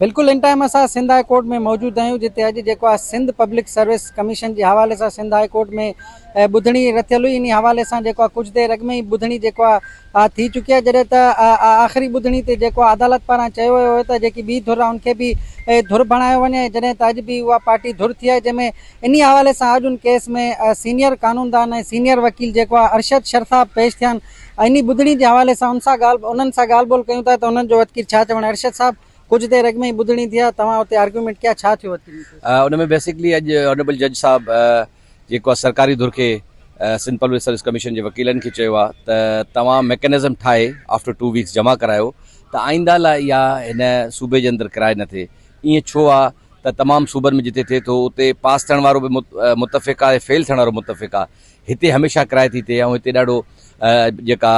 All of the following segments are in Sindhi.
بلڪل ان ٽائيم اسان سنڌ هاء ڪورٽ ۾ موجود آهيون جتي اڄ جيڪو آهي سنڌ پبلڪ سروس ڪميشن جي حوالي سان سنڌ هاء ڪورٽ ۾ ٻڌڻي رٿيل هئي انهي حوالي سان جيڪو آهي ڪجهه دير اڳ ۾ ئي ٻڌڻي جيڪو آهي ٿي چڪي آهي جڏهن ته آخري ٻڌڻي تي جيڪو آهي عدالت پاران چيو ويو هو ته جيڪي ٻي ڌر آهي ان کي به ڌر بڻايو وڃي ۽ جڏهن ته اڄ به اها پارٽي ڌر ٿي آهي جنهن ۾ انهي حوالي سان اڄ ان ڪيس ۾ سينيئر قانوندان ۽ سينيئر وڪيل جيڪو آهي ارشد شرثاب پيش ٿيا آهن انهي ٻڌڻي جي حوالي سان ان سان ڳالهه انهن سان ڳالهه ٻولهه ڪيون ٿا ته انهن جو وتڪير ڇا چوڻ آهي ارشد صاحب ڪجهه دير اڳ ۾ ئي ٻڌڻي ٿي آ توهان اتي آرگيومينٽ ڪيا ڇا ٿيو اتي ان ۾ بيسڪلي اڄ آنريبل جج صاحب جيڪو آ سرڪاري ڌر کي سنڌ پبلڪ سروس ڪميشن جي وڪيلن کي چيو آ ته توهان ميڪنزم ٺاهي آفٽر ٽو ويڪس جمع ڪرايو ته آئنده لاء اها هن صوبي جي اندر ڪرائي نه ٿئي ائين ڇو آ ته تمام صوبن ۾ جتي ٿئي ٿو اتي پاس ٿيڻ وارو به متفق آهي فيل ٿيڻ وارو متفق آهي هتي هميشه ڪرائي ٿي ٿئي ۽ هتي ڏاڍو جيڪا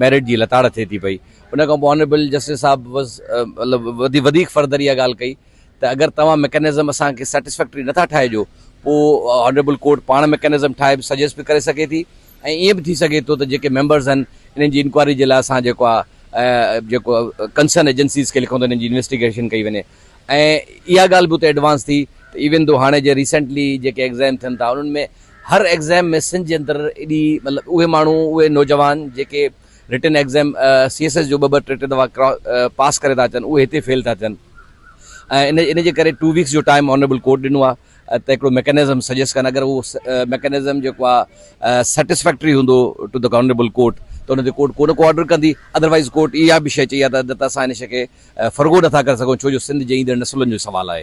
ميرٽ جي لتاڙ ٿئي ٿي پئي ان کان پوء آنريبل جسٽس صاحب مطلب وڌي وڌيڪ فردر اها ڳالهه ڪئي ته اگر توهان ميڪنزم اسان کي سيٽسفيڪٽري نٿا ٺاهي ڏيو پوء آنريبل ڪورٽ پاڻ ميڪنزم ٺاهي به سجيسٽ به ڪري سگهي ٿي ۽ ائين به ٿي سگهي ٿو ته جيڪي ميمبرز آهن انهن جي انڪوائري جي لاء اسان جيڪو آهي جيڪو ڪنسرن ايجنسيز کي لکون ته انهن جي انويسٽيگيشن ڪئي وڃي ۽ اها ڳالهه به اتي ايڊوانس ٿي ته ايون دو هاڻي جي ريسينٽلي جيڪي ايگزيم ٿين ٿا انهن ۾ هر ايگزيم ۾ سنڌ جي اندر ايڏي مطلب اهي ماڻهو اهي نوجوان جيڪي written exam C S S جو ٻه ٻه ٽي ٽي دفعا پاس ڪري ٿا اچن اهي هتي فيل ٿا ٿين ۽ ان جي ڪري ٽو ويڪس جو ٽائيم آنريبل ڪورٽ ڏنو آهي ته هڪڙو ميڪنزم سجيسٽ ڪن اگر اهو ميڪنزم جيڪو آ سيٽسفيڪٽري هوندو ٽو ته آنريبل ڪورٽ ته ان تي ڪورٽ ڪو نه ڪو آرڊر ڪندي ادروائيز ڪورٽ اها به شيء چئي آ ته اڄ ته اسان ان شيء کي فرگو نٿا ڪري سگهون ڇو جو سنڌ جي ايندڙ نسلن جو سوال آهي.